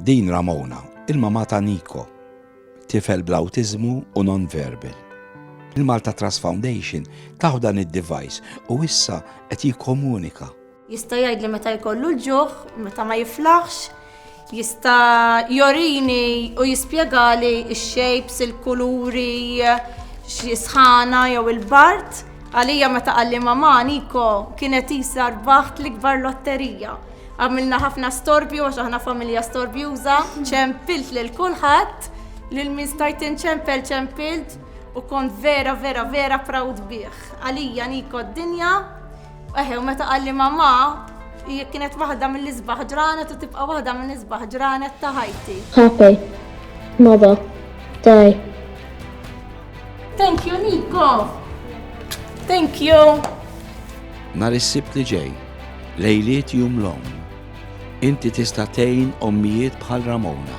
Din Ramona, il-mama ta' Niko, tifel bl-awtiżmu u non-verbal. Il-Malta Trust Foundation taħu dan id-device u issa qed jikkomunika. Jista' jgħidli meta jkollu l-ġuħ, meta ma jiflaħx, jista' jorini u jispjegali x-shapes, il-kuluri, xi sħana jew il-bard. Għalija meta qalli mama Niko kienet qisha rbaħt l-ikbar lotterija. Għamilna ħafna storbju għax aħna familja storbjuża, ċempilt lil kulħadd, lil min stajt inċempel ċempilt u kont vera vera vera proud bih. Għalija Niko d-dinja, eħe u meta qalli mamma, hija kienet waħda mill-isbaħ ġranet u tibqa' waħda mill-isbaħ ġranet ta' ħajti. Happy mother day. Thank you, Nico! Thank you! Nar is-sibt li ġej, lejliet jum l-om, inti tista' tgħin ommijiet bħal Ramona.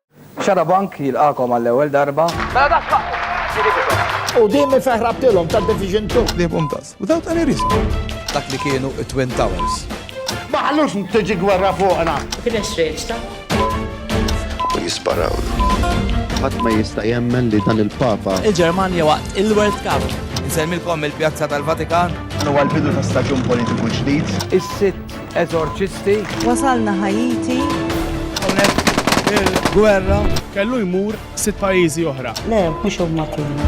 Xarabank jilqagħkom għall-ewwel darba. Mela da x'faqtu? U din min fejn ħrabtilhom ta' Division 2. Tlibhom tas. Without any reason. Dak li kienu it-Twin Towers. Ma ħallux tiġi gwerra fuqna. Kien hemm xreġta. U jisparawlu. Ħadd ma jista' jemmen li dan il-Papa. Il-Ġermanja waqt il-World Cup. Insemmilkom mill-Pjazza tal-Vatikan. Dan huwa l-bidu ta' staġun politiku ġdid. Is-sitt Eżorċisti. Wasalna Ħaiti. Hawnhekk il-gwerra. Kellu jmur sitt pajjiżi oħra. Le, mhux huma kienu.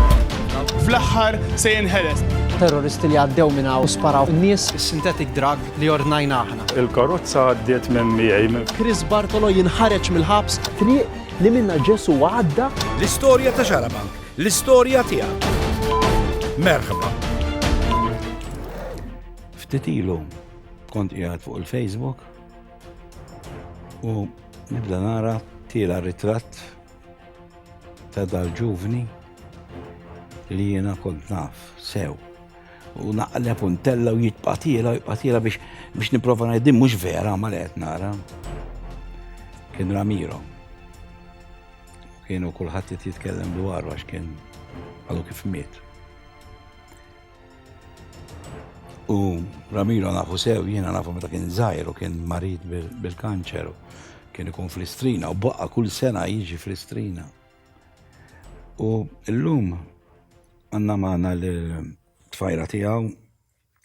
Fl-aħħar se jinħeles. Terroristi li għaddew minn hawn sparaw nies. Is-synthetic drug li ordnajna aħna. Il-karozza għaddiet minn miegħi. Chris Bartolo jinħareġ mill-ħabs. Triq li minna Ġesu għadda. L-istorja ta' Xarabank, l-istorja tiegħek. Merħba. Ftit ilu kont qiegħed fuq il-Facebook u nibda nara tiela ritratt ta' dal-ġuvni li jiena kont naf sew u naqleb u ntella u jitqatila u jitqatila biex biex niprofa ngħidim mhux vera ma li qed nara. Kien Ramiro. Kienu kulħadd qed jitkellem dwaru għax kien għadu kif miet. U Ramiro nafu sew, jiena nafu meta kien żgħir u kien marid bil-kanċer u kien ikun fl-istrina u baqqa kull sena jiġi fl-istrina. U llum għandna magħna l-tfajra tiegħu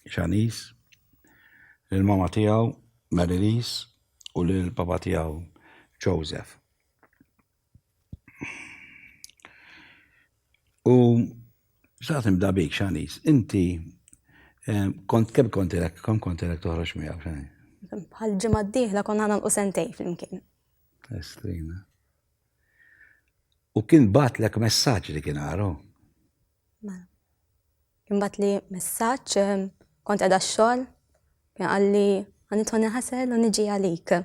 Xanis, l-mama tiegħu Marilis u l-papa tiegħu Joseph. U xaqt nibda bik, xanis, inti eh, kont kemm kont irek, kemm kont irek toħroġ miegħu xanis? Bħal ġimgħa d-dieħla konna nagħlqu sentej flimkien. Estrina. U kien batlek messaġġ li kien għaru? Mela. Kien bat li messaġġ eh, kont qiegħda x-xogħol, kien qalli għanitħoni ħasel u niġi għalik.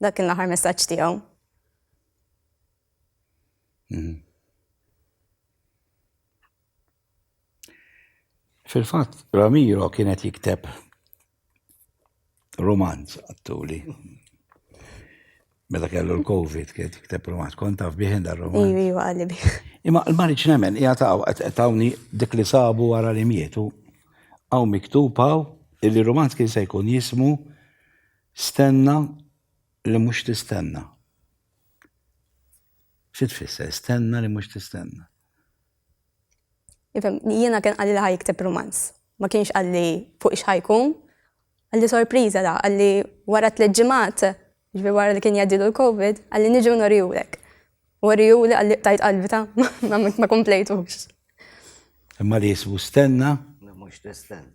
Dak kien l-aħħar messaġġ tiegħu. Mhm. Fil-fatt, Ramiro kienet jikteb romanz għattuli. Meta kellu l-Covid, kienet jikteb romanz, kont taf biħin dar romanz. Iwi, iwi, għalli bi. Imma l-marriċ nemmen, hija taw, tawni dik li sabu għara li mietu, għaw miktupaw, illi romanz kien se jkun jismu Stenna li mhux tistenna. Xi tfisser stenna li mhux tistenna? Ifhem, jiena kien qalli li ħa jikteb rumanz. Ma kienx qalli fuq x'ħajkun. Qalli sorpriża da, qalli wara tliet ġimgħat, ġifieri wara li kien jgħaddilu l-Covid, qalli niġi u norihulek. U uriehuli qalli qtajt qalbi ta, ma komplejtux. Imma li jismu stenna li mhux tistenna.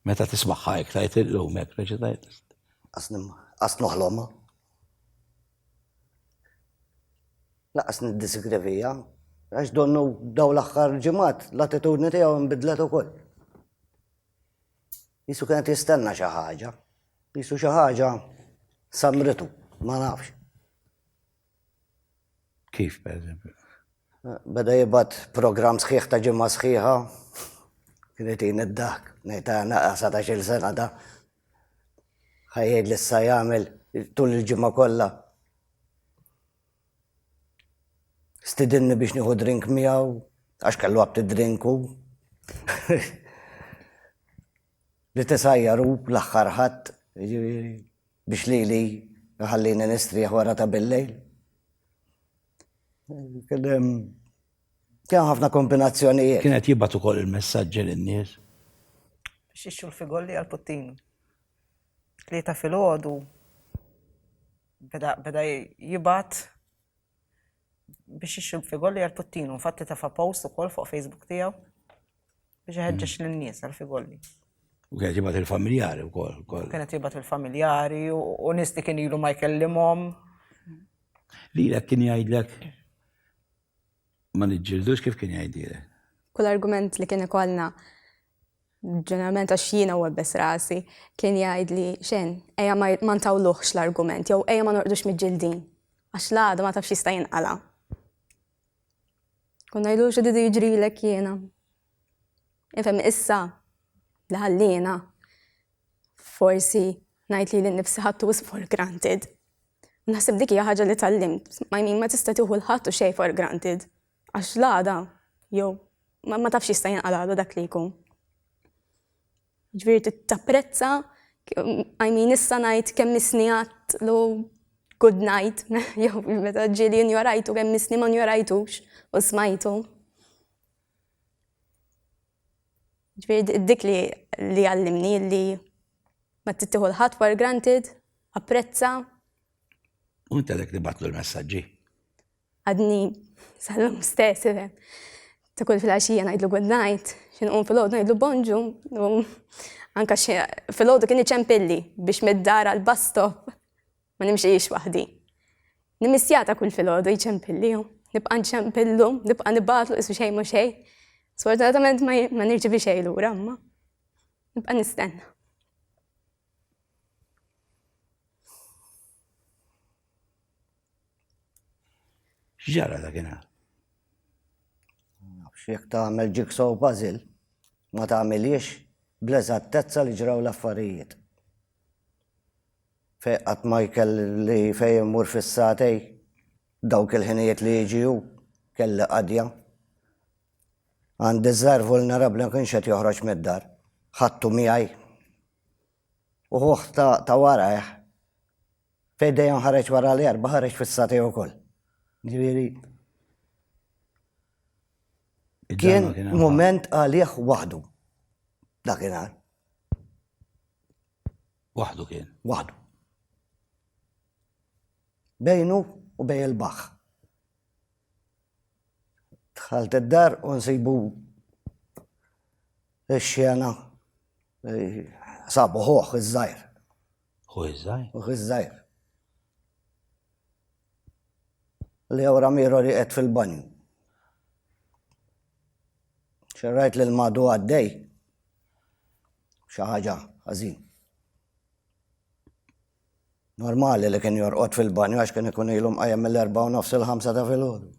Meta tismagħha hekk tgħid illum hekk reċitajt. Qas noħlomha. Laqas niddisigravija, għax donnu daw l-aħħar ġimgħat l-attitudni tiegħu nbidlet ukoll. Jisu kienet jistenna xi ħaġa, jisu xi ħaġa samritu, ma nafx. Kif, pereżempju? Beda jibgħat programm sħiħ ta' ġimgħa sħiħa. Kien itin id-daħk. Ngħid ta' naqra satax-il sena da. Ħa jgħid li issa jagħmel tul il-ġimgħa kollha. Stidinni biex nieħu drink miegħu għax kellu abti drink hu. Li tisajjar hu l-aħħar Ħadd, jiġifieri biex lili jħallini nistrieħ wara ta' billejl. Kien hemm kien ħafna kombinazzjonijiet. Kien qed jibgħat ukoll il-messaġġi lin-nies. Biex jixtru l-figolli għall-puttini. Tlieta filgħodu beda beda jibgħat. biex jixrib figolli għal Puttinu. Infatti tafa post ukoll fuq Facebook tiegħu biex iħeġġeġ mm. lin-nies għal figolli. U kienet jibat il-familjari u kol. Kienet jibat il-familjari u nis li kien ilu ma jkellimhom. Li l kien jgħidlek ma nġildux kif kien jgħidilek. Kull argument li kien ikollna ġeneralment għax jiena u għebbes rasi, kien jgħid li xen, eja ma ntawluħx l-argument, jew eja ma norqdux mid-ġildin, għax l-għada ma tafx jista' jinqala. Kun ngħidu xi didu jiġrilek jiena. Ifhem issa li ħallina forsi ngħid li l-nifsi ħattu is for granted. Naħseb dik hija ħaġa li tallimt, ma jmin ma tista' tieħu l-ħadd u xejn for granted. Għax l-għada, jew ma tafx jista' jinqal għada dak li jkun. Ġifieri tapprezza, I mean issa ngħid kemm isni għadd lu good night, jew meta ġieli injorajtu kemm isni ma njorajtux u smajtu. Ġifieri dik li li għallimni li ma tittieħu l-ħadd for granted, apprezza. U intelek li batlu l-messaġġi. Għadni sal-lum stess, ifhem. Ta' kull fil-għaxija ngħidlu good night, xi nqum fil-għodu ngħidlu bonġu, u anka xi fil-għodu kien iċempilli biex mid-dar għal bus stop ma nimxiex waħdi. Nimissja ta' kull fil-għodu jċempilli u nibqa' nċempillu, nibqa' nibatlu isu xejn mhu xejn. Sfortunatament ma nirċivi xejn lura, imma nibqa' nistenna. X'ġara dakinhar? Nafx jekk tagħmel jigsaw puzzle ma tagħmilhiex bl-eżattezza li ġraw l-affarijiet. Fejn qatt ma jkelli fejn immur fis-sagħtej dawk il-ħinijiet li jiġi hu kelli qadja. Għandi ż-żgħir vulnerabbli ma kienx qed joħroġ mid-dar. Ħadtu miegħi. U ħuh ta' warajh Fejn dejjem ħareġ wara l-erba' ħareġ fis-satej ukoll. Ġifieri kien mument għalih waħdu. Dakinhar. Waħdu kien. Waħdu. Bejnu u bej il-baħ. Dħalt id-dar u nsibu x-xena eh, sabu ħoħ iż-żajr. Ħuh iż-żgħir. Ħuh iż-żgħir. Leo Ramiro li qed fil-banju. Xerrajt lil madu għaddej. Xi ħaġa ħażin. Normali li kien jorqod fil-banju għax kien ikun ilhom qajjem mill-erba' u nofs il-ħamsa ta' filgħodu.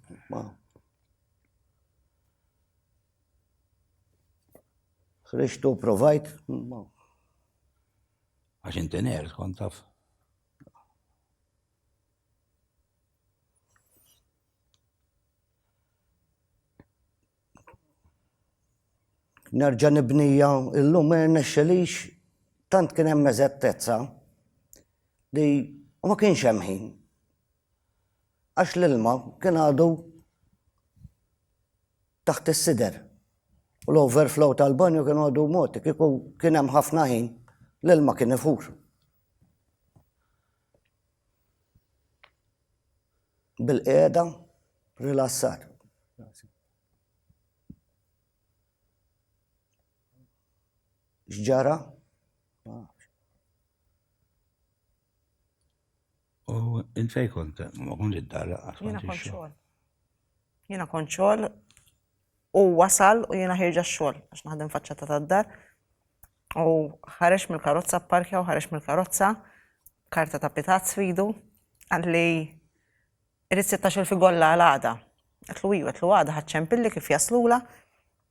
Ħriġtu provajt? Għax inti ners kont taf. Nerġa' nibnija illum ma jirnexxelix tant kien hemm eżattezza li ma kienx hemm ħin għax l-ilma kien għadu taħt is-sider u l-overflow tal-banju kien għadu mogħti, kieku kien hemm ħafna ħin l-ilma kien ifur. Bil-qiegħda rilassat. X'ġara? U int fej kont, ma kont id-dar għax kont xogħol. Jiena kont xogħol u wasal u jiena ħirġa xogħol għax naħdem faċċata tad-dar. U ħareġ mill-karozza parkja u ħareġ mill-karozza karta ta' pitat sfidu għalli irrid 16 fi golla għal għada. Għatlu iju, għatlu għada ħadċempilli kif jaslula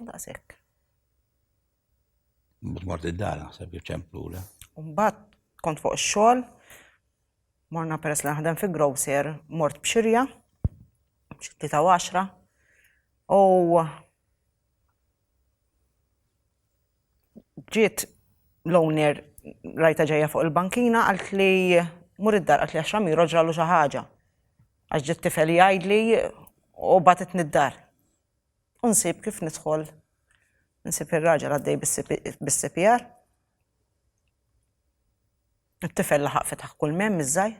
Daqshekk. Mut mort id-dar naħseb ċemplu le. Mbagħad kont fuq ix-xogħol, morna peress li naħdem fi grocer, mort b'xirja, xi ta' għaxra, u Ġiet l-owner rajtha ġejja fuq il-bankina qaltli mur id-dar qaltli għax Ramiro ġralu xi ħaġa għax ġie t-tifel jgħidli u bagħtitni d-dar. U nsib kif nidħol nsib ir-raġel għaddej bis-CPR. It-tifel laħaq fetaħ kulmhemm iż-żgħir.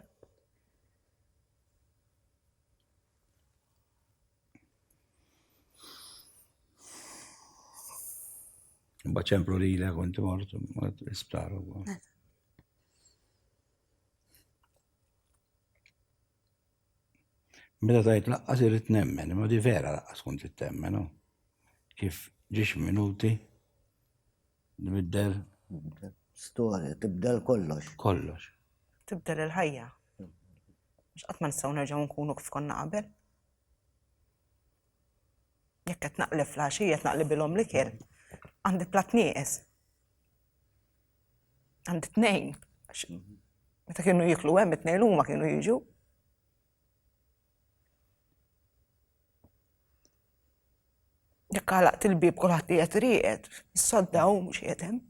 Baċemplu li l kont mort, mort l-isptar u. Meta tajt laqqas irrit nemmen, ma di vera laqqas kont temmen, no? Kif ġiex minuti, nibdel. Storja, tibdel kollox. Kollox. Tibdel il-ħajja. Mux għatman s-saw nerġaw nkunu kif konna qabel. Jekk qed naqli fl-għaxija qed naqli bilhom l-ikel, għandi plat nieqes. Għandi tnejn. Meta kienu jiklu hemm it-tnejn huma kienu jiġu. Jekk għalaqt il-bib kulħadd qiegħed rieqed, is-sodda hu mhux qiegħed hemm.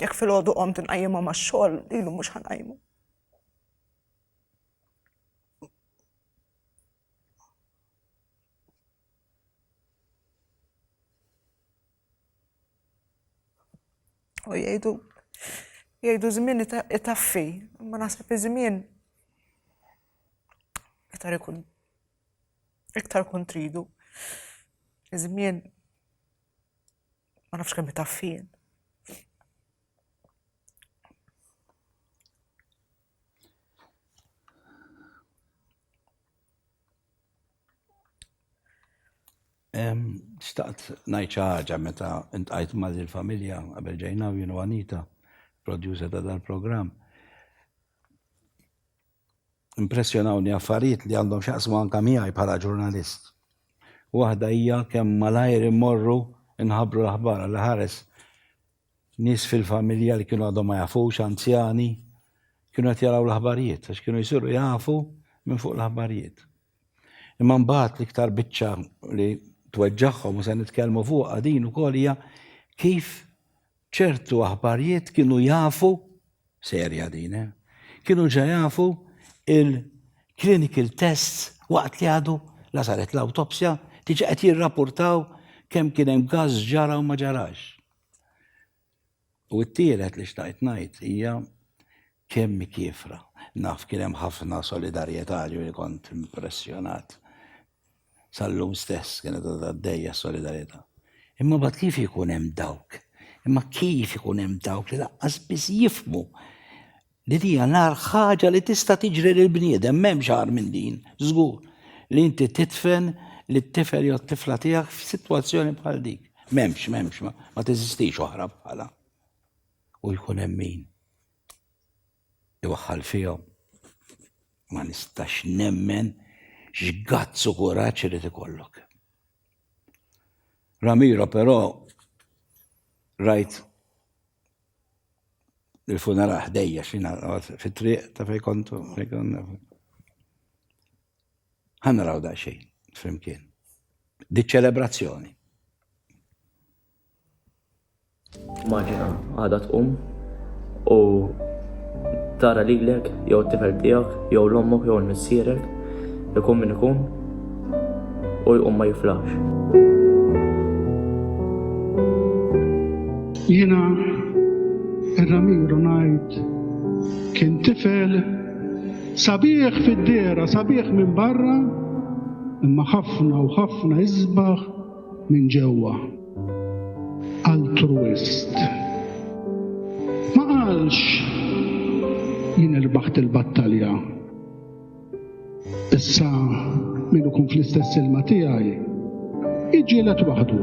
Jekk fil-għodu qom tinqajjimha max-xogħol, ilu mhux ħanqajmu. U jgħidu jgħidu żmien itaffi, ma naħseb iż-żmien iktar ikun iktar kontridu. Iż-żmien Ma nafx kemm taffin. Xtaqt najċa ħaġa meta intqajt ma' l-familja għabel ġejna u jienu għanita, producer ta' dal-program. Impressjonawni affarijiet li għandhom x'jaqsmu anke miegħi bħala ġurnalist. Waħda hija kemm malajr immorru nħabbru l-aħbar għall-aħares nies fil-familja li kienu għadhom ma jafux, anzjani, kienu qed jaraw l-aħbarijiet għax kienu jsiru jafu minn fuq l-aħbarijiet. Imma mbagħad l-iktar biċċa li tweġġagħhom u se nitkellmu fuqha din ukoll hija kif Ċertu aħbarjiet kienu jafu, serja din, eh? kienu ġa jafu il-clinical tests waqt li għadu la saret l-autopsja, tiġi qed jirrapportaw kemm kien hemm gass ġara u ma ġarax. U t-tielet li xtaqt ngħid hija Kemm hi kiefra. Naf kien hemm ħafna solidarjetà, ġifieri kont impressjonat. Sal-lum stess kienet għadha għaddejja s-solidarjetà. Imma mbagħad kif ikun hemm dawk, imma kif ikun hemm dawk li laqqas biss jifhmu li din hija l-agħar ħaġa li tista' tiġri lil bniedem, m'hemmx agħar minn din, żgur, li inti tidfen lit-tifel jew t-tifla tiegħek f'sitwazzjoni bħal dik. M'hemmx, m'hemmx, ma teżistix oħra bħalha. u jkun hemm min iwaħħal fihom. Ma nistax nemmen x'gazz u kuraġġ irid ikollok. Ramiro però rajt il-funeral ħdejja xina fit-triq ta' fej kontu. Ħanna raw da' xejn, flimkien. Di ċelebrazzjoni. Maġina għadha tqum u tara lilek jew t-tifel tiegħek jew l-ommok jew l-missierek ikun min ikun u jqum ma jiflaħx. Jiena ir-Ramiru ngħid kien tifel sabiħ fid-dehra, sabiħ minn barra, imma ħafna u ħafna isbaħ Minn ġewwa. Altruist. Ma qalx jien irbaħt il-battalja. Issa min ikun fl-istess ilma tiegħi iġġielet waħdu.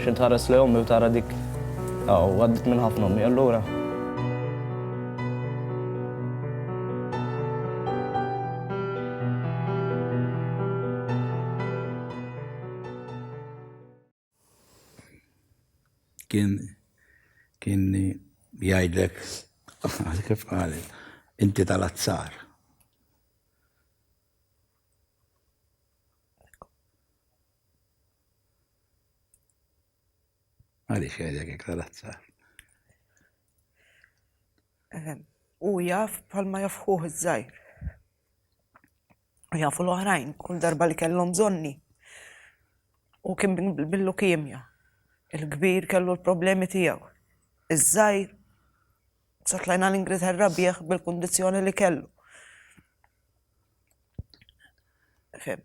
Xi tħares lejn ommi u tara dik hawn għaddiet minn ħafna ommi allura. Kien kien jgħidlek kif qalet, inti tal-azzar. Għaliex jgħidek hekk tal-azzar? Ehm, u jaf palma jafħuħ iż-żajr. U jafu l-oħrajn, kull darba li kellhom bżonni. U kien billu kimja. Il-kbir kellu l-problemi tiegħu. Iż-żajr satlajna l-Ingilterra bieħ bil-kondizjoni li kellu. Fem.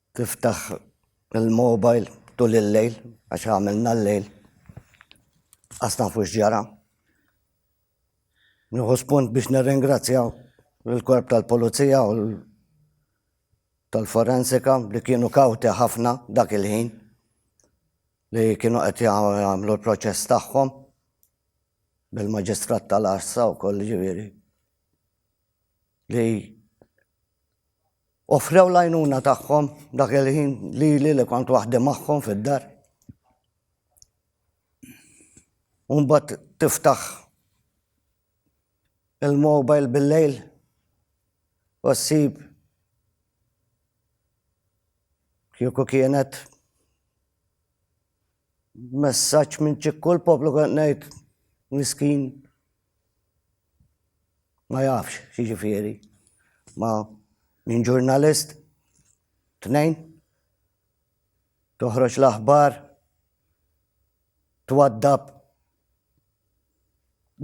Tiftaħ il-mobile tul il-lejl għax għamilna l-lejl. Qas nafu x'ġara. Nieħu spunt biex nirringrazzja l-korp tal-pulizija u tal-forensika li kienu kawti ħafna dak il-ħin li kienu qed jagħmlu l-proċess tagħhom bil-maġistrat tal-arsa wkoll ġifieri. li offrew l-għajnuna tagħhom dak il-ħin lili li kont waħdi magħhom fid-dar. Umbat tiftaħ il-mobile bil-lejl u ssib kieku kienet messaġġ minn ċikkul poplu kont ngħid miskin Ma jafx x'jiġifieri. Ma minn ġurnalist tnejn toħroġ l-aħbar twaddab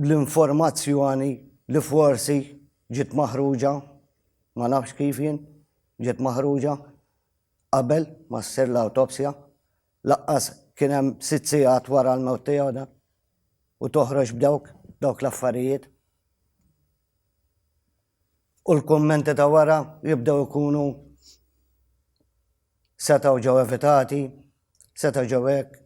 l-informazzjoni li forsi ġiet maħruġa ma nafx kif jien ġiet maħruġa qabel ma ssir l-awtopsja. Laqqas kien hemm sitt sigħat wara l-mewt tiegħu dan u toħroġ b'dawk dawk l-affarijiet. U l-kummenti ta' wara jibdew ikunu setgħu ġew evitati, setgħu ġew hekk.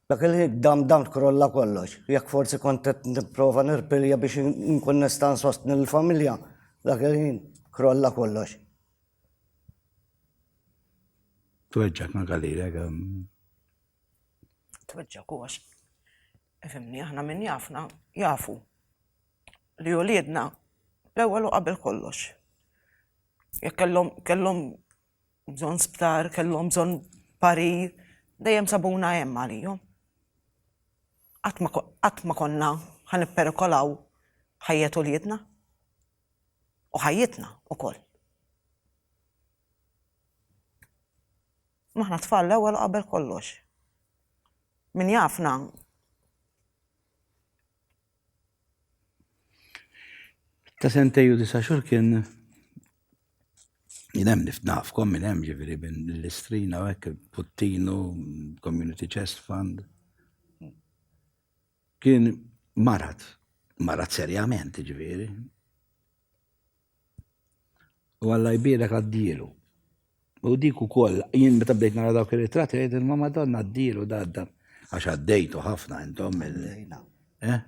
Dak il-ħin d-damdam tkrolla kollox. Jekk forsi kont qed nipprova nirpilja biex inkun nista' nsostni lill-familja, dak il-ħin krolla kollox. Tweġġgħek ma' Galilek. Tweġġgħek u għax ifhimni aħna min jafna jafu li uliedna l-ewwel u qabel kollox. Jekk kellhom bżonn sptar, kellhom bżonn parir, dejjem sabuna hemm għalihom. Qatt ma konna ħa nipperikolaw ħajjet uliedna u ħajjitna wkoll. Imma aħna tfal l-ewwel qabel kollox. Min jafna Ta' sentej u disa xur kien jinem nift nafkom minn hemm ġifieri l-istrina u hekk Puttinu, Community Chest Fund. Kien marat, marat serjament ġifieri. U Alla jbierek għaddielu. U dik ukoll, jien meta bdejt nara dawk ir-ritratti għid ma Madonna għaddielu dadda għax għaddejtu ħafna intom eh?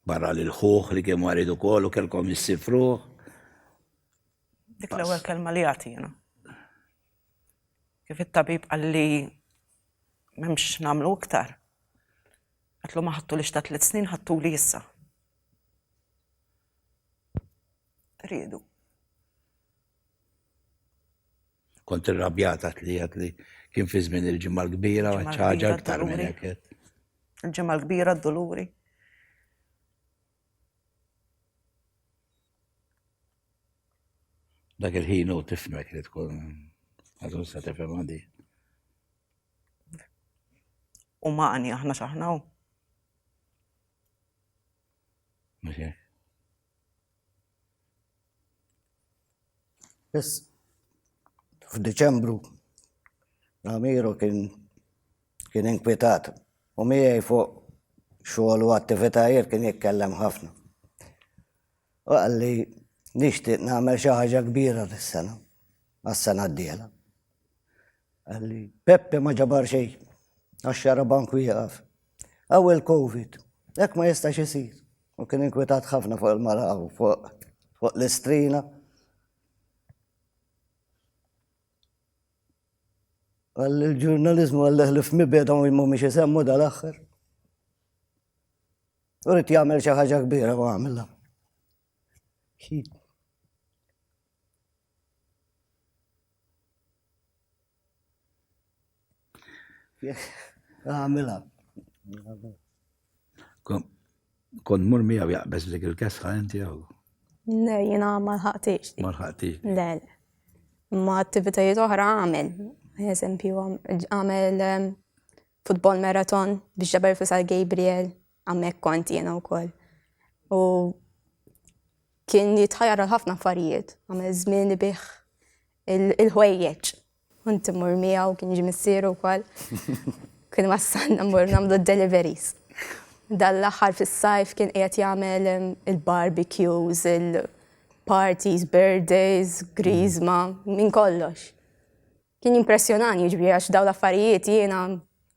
Barra li l-ħuħ li kien marid ukoll u kellkom jissifruh. Dik l-ewwel kelma li għati jiena. Kif it-tabib qalli m'hemmx nagħmlu iktar. Għatlu ma ħattu li xta tliet snin ħattu li issa. riedu. Kont irrabjata li għat li kien fi żmien il-ġimgħa l-kbira u ċaġa aktar minn hekk. Il-ġimgħa l-kbira d-doluri. Dak il-ħin u tifmek li tkun għazun sa tifhem għandi. U maħni aħna xaħna u. Mhux Biss f'Diċembru Amiru kien kien inkwitat u miegħi fuq xogħol u attivitajiet kien jitkellem ħafna. U għalli nixtieq nagħmel xi ħaġa kbira dis-sena, għas-sena d-diela. Għalli, Peppe ma ġabar xejn, għax xara bank wieqaf. Għaw il-Covid, hekk ma jistax isir. U kien inkwetat ħafna fuq il-mara u fuq l-istrina. Għalli l-ġurnalizmu għalli ħlif mibeda u jimmu miex jisemmu dal-axħar. U rrit jgħamil xaħġa kbira u għamilla. Għamila. Kon mur miegħu jaqbeż dik il-kesħa inti jew? Le, jiena ma lħaqtix. Ma lħaqtix. Le, le. Ma attivitajiet oħra għamel. Eżempju, għamel ehm, futbol maraton biex ġabar fisal Gabriel, għamek kont jena u koll. U Kien jitħajjar għal ħafna affarijiet, għamel żmien ibih il-ħwejjeġ. Kont immur miegħu kien jiġi missieru wkoll. Kien wassalna mmur nagħmlu d-deliveries. Dan l-aħħar fis-sajf kien qiegħed jagħmel il-barbecues, il-parties, birthdays, grizma, minn kollox. Kien jimpressjonani jiġri għax dawn l-affarijiet jiena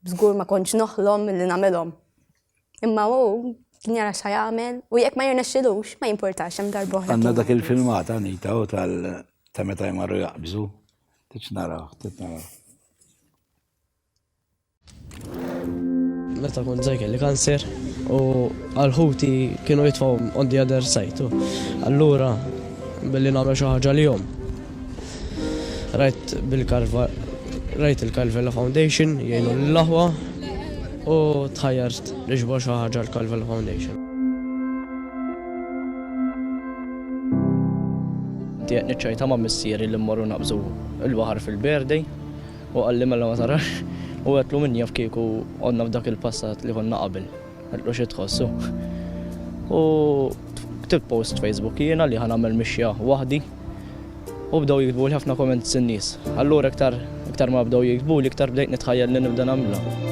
żgur ma kontx noħlom li nagħmilhom. Imma hu kien jara xa jagħmel u jekk ma jirnexxilux ma jimpurtax hemm darba oħra. Għandna dak il-filmat Anita u tal ta' meta jmarru jaqbżu. Titx naraw, titnaraw. Meta kont żgħir kelli kanser u għal ħuti kienu jitfgħu on the other side. Allura billi nagħmel xi ħaġa li jom. Rajt bil-karva rajt il-Calvella Foundation jgħinu l-laħwa u tħajjart li ġbor xi ħaġa l-Calvella Foundation. Tiegħek niċċajta ma' missieri li mmorru naqbżu l-baħar fil-berdej Hu qalli mela ma tarax u għedtlu min jaf kieku għodna f'dak il-passat li konna qabel. Għedtlu xi tħoss hu. U ktibt post Facebook jiena li ħa nagħmel mixja waħdi u bdew jiktbuli ħafna comments in-nies. Allura iktar iktar ma bdew jiktbuli iktar bdejt nitħajjel li nibda nagħmilha.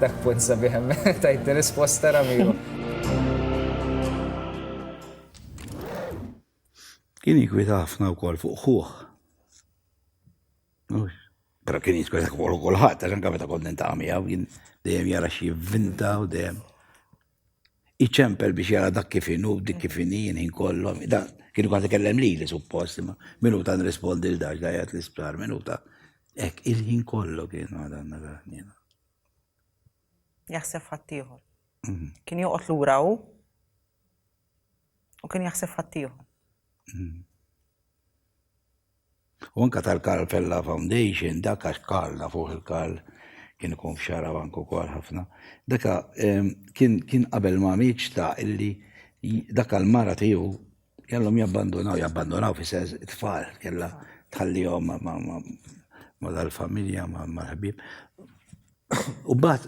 Dak punt sabiħ tajt risposta Ramiro. Kien jikwita ħafna wkoll fuq ħuħ. Pero kien jitkun dak fuq kulħadd, għax anke meta kont nintaqgħu miegħu kien dejjem jara xi vinta u dejjem. Iċempel biex jara dak kif inhu, dik kif inhi, ħin kollu. Da, kienu kważi kellem li li suppost, ma minuta nrispondi l-dax da jgħat l-isptar, minuta. Ek, il-ħin kollu kien għadanna għahnina. Jaħseb ħattijħor. Mhm. Kien joqot l-ura u u kien jaħseb ħattijħor. Mhm. U anke tal-Karl Fella Foundation, dak għax Karl nafuh il-Karl kien ikun f'xara bank ukoll ħafna. Daka ehm, kien kien qabel ma miet xta' illi daka l-mara tiegħu kellhom jabbandunaw, jabbandunaw fi sens it-tfal kellha tħallihom ma' dal-familja ma' l-ħbib. U bat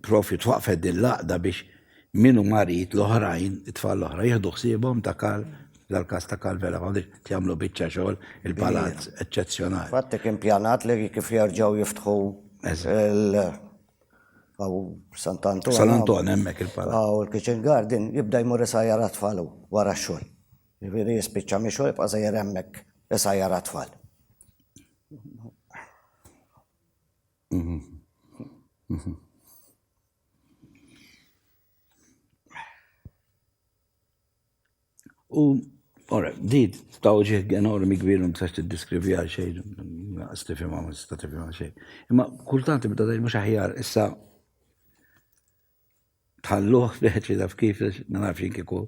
Proprju twaqqfet din l-għaqda biex min hu marid l-oħrajn, it-tfal l-oħra jieħdu ħsiebhom ta' Karl, dal-każ ta' Karl Vella Foundation, qed jagħmlu biċċa xogħol, il-palazz eċċezzjonali. Fatt hekk impjanat li kif jerġgħu jiftħu l hawn Sant Anton. San Anton hemmhekk il-palazz. Hawn il-kitchen garden jibda jmur isajjar għat-tfal hu wara x-xogħol. Jiġifieri jispiċċa mix-xogħol jibqa' sejjer hemmhekk isajjar għat-tfal. U, ora, di ta' uġieħ enormi kbir u msax t-diskrivi għal xej, naqas tifima, ma tista' tifima għal xej. Imma kultant ibda dajn mhux aħjar, issa tħalluh biħet li daf kif, ma nafx jien kieku,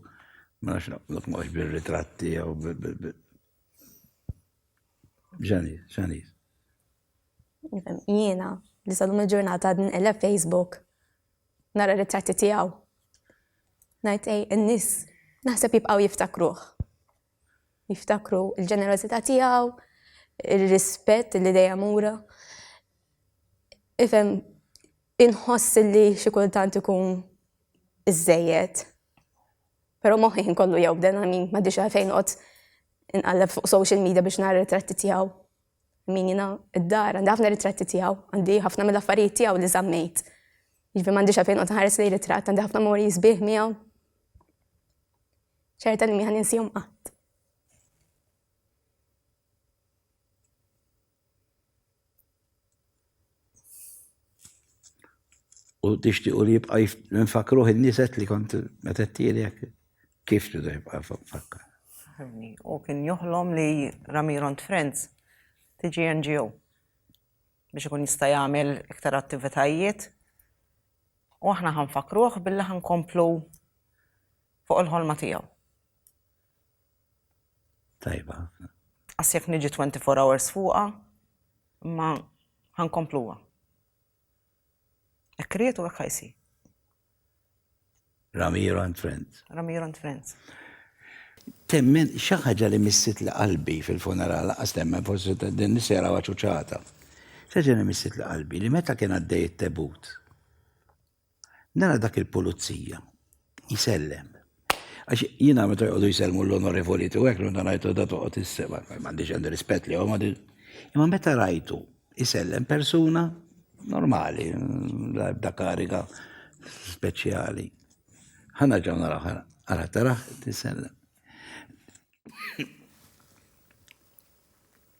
ma nafx naqblok ma bil-ritratti jew bil-ġanis, ġanis. Jiena, li sadum il-ġurnata għadni nqelleb Facebook, nara ritratti tiegħu. Ngħid ej, in-nies naħseb jibqgħu jiftakruh. Jiftakru l-ġenerożità tiegħu, ir-rispett li dejjem ura. Ifhem inħoss li xi kultant ikun iżejjed. Però moħħi kollu jew bdena min ma dixa fejn qod inqalleb fuq social media biex nara ritratti tiegħu. Min jiena id-dar, għandi ħafna ritratti tiegħu, għandi ħafna mill-affarijiet tiegħu li żammejt. Ġifi m'għandix għalfejn qod nħares lejn ritratt, għandi ħafna mori sbieħ miegħu. ċerta li miħan insihom qatt. U tixtiqu li jibqa' nfakruh in-niset li kont meta tielek kif tridu jibqa' nfakkar. U kien joħlom li Ramiro and Friends tiġi NGO biex ikun jista' jagħmel iktar attivitajiet u aħna ħanfakruh billi ħankomplu fuq il-ħolma tiegħu. Tajba ħafna. Għas jekk niġi 24 hours fuqa, ma ħankompluwa. Ek kriet u ek ħajsi. Ramiro and Friends. Ramiro and Friends. Temmen xaħġa li missit li qalbi fil-funeral, għas temmen forsi din nisera għaċuċata. Xaħġa li missit li qalbi li meta kien għaddej it-tebut. Nara dak il-pulizija jisellem. Għax jina meta jgħodu jisellmu l-onorevoli tu għek, l rajtu da toqgħod is-seba, m'għandix għandi rispett li għom Imma meta rajtu jisellem persuna normali, da kariga speċjali. Ħana ġaw naraw ħana, għara taraħ tisellem.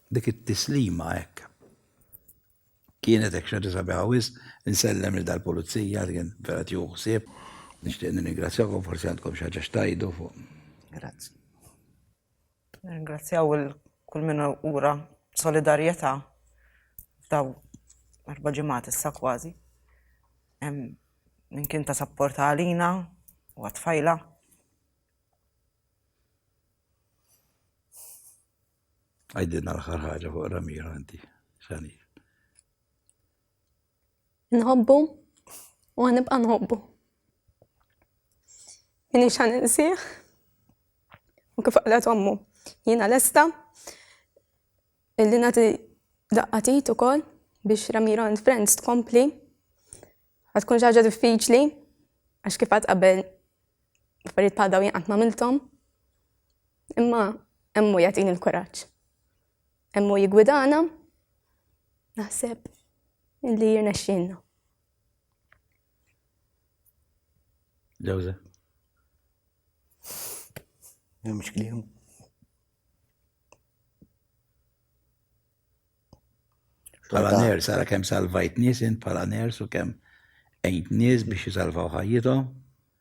Dik it-tislima hekk Kienet hekk x'ħaġa sabiħa wisq, insellem lil dal-pulizija li kien vera tieħu ħsieb. Nixtieq nirringrazzjakom forsi għandkom xi ħaġa x'tgħidu fuq. Grazzi. Nirringrazzjaw il kull min ura solidarjetà f'daw erba' ġimgħat issa kważi. Min kien ta' sapport għalina u għat-tfajla. Għajdinna l-ħar ħaġa fuq Ramiro inti, xani. Nħobbu u għanibqa nħobbu. Minni xan insieħ u kif għalet għammu. Jina l-esta illi nati daqqatit u kol biex Ramiro and Friends tkompli. Għatkun ġaġa diffiċli għax kif għat qabel affarijiet bħal dawn jaqgħat ma' miltom. Imma emmu jagħtini l-kuraġġ. Emmu jigwidana naħseb li jirnexxinna. Ġewża. Mhux kliem. Pala ners, għara kem salvajt nis, int pala ners u kem ejnt nis biex jisalvaw ħajjithom.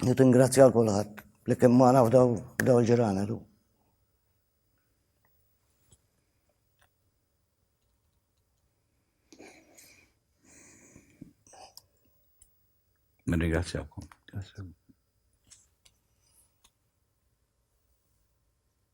Nitingrazzja għal kulħadd li kien magħna f'daw f'daw il-ġirana lu. Nirringrazzjawkom. Grazie.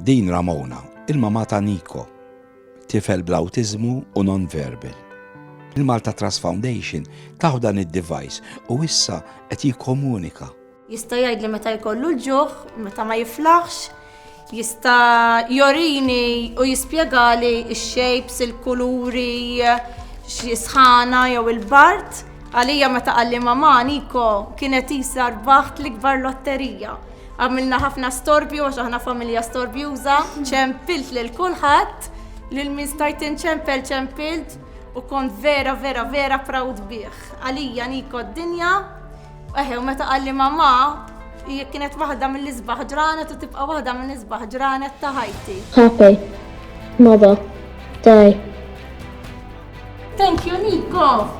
Din Ramona, il-mamà ta' Nico, tifel bl-awtiżmu u non-verbal. Il-Malta Trust Foundation tahu dan id-device u issa qed jikkomunika. Jista' jgħidli meta jkollu l-ġuħ, meta ma jiflaħx, jista' jorini u jispjegali x-shapes, il-kuluri, xi sħana jew il-bard. Għalija meta qalli mamà, Nico kienet qisha rbaħt l-ikbar lotterija. Għamilna ħafna storbju għax aħna familja storbjuża, ċempilt lil kulħadd, lil min stajt inċempel ċempilt u kont vera vera vera proud bih. Għalija Niko d-dinja, eħe u meta qalli mamma, hija kienet waħda mill-isbaħ ġranet u tibqa' waħda mill-isbaħ ġranet ta' ħajti. Happy mother day. Thank you, Nico!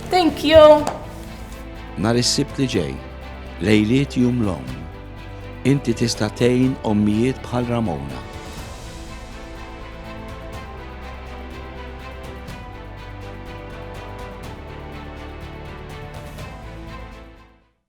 Thank you! Nar is-sibt li ġej, lejliet jum l-om, inti tista' tgħin ommijiet bħal Ramona.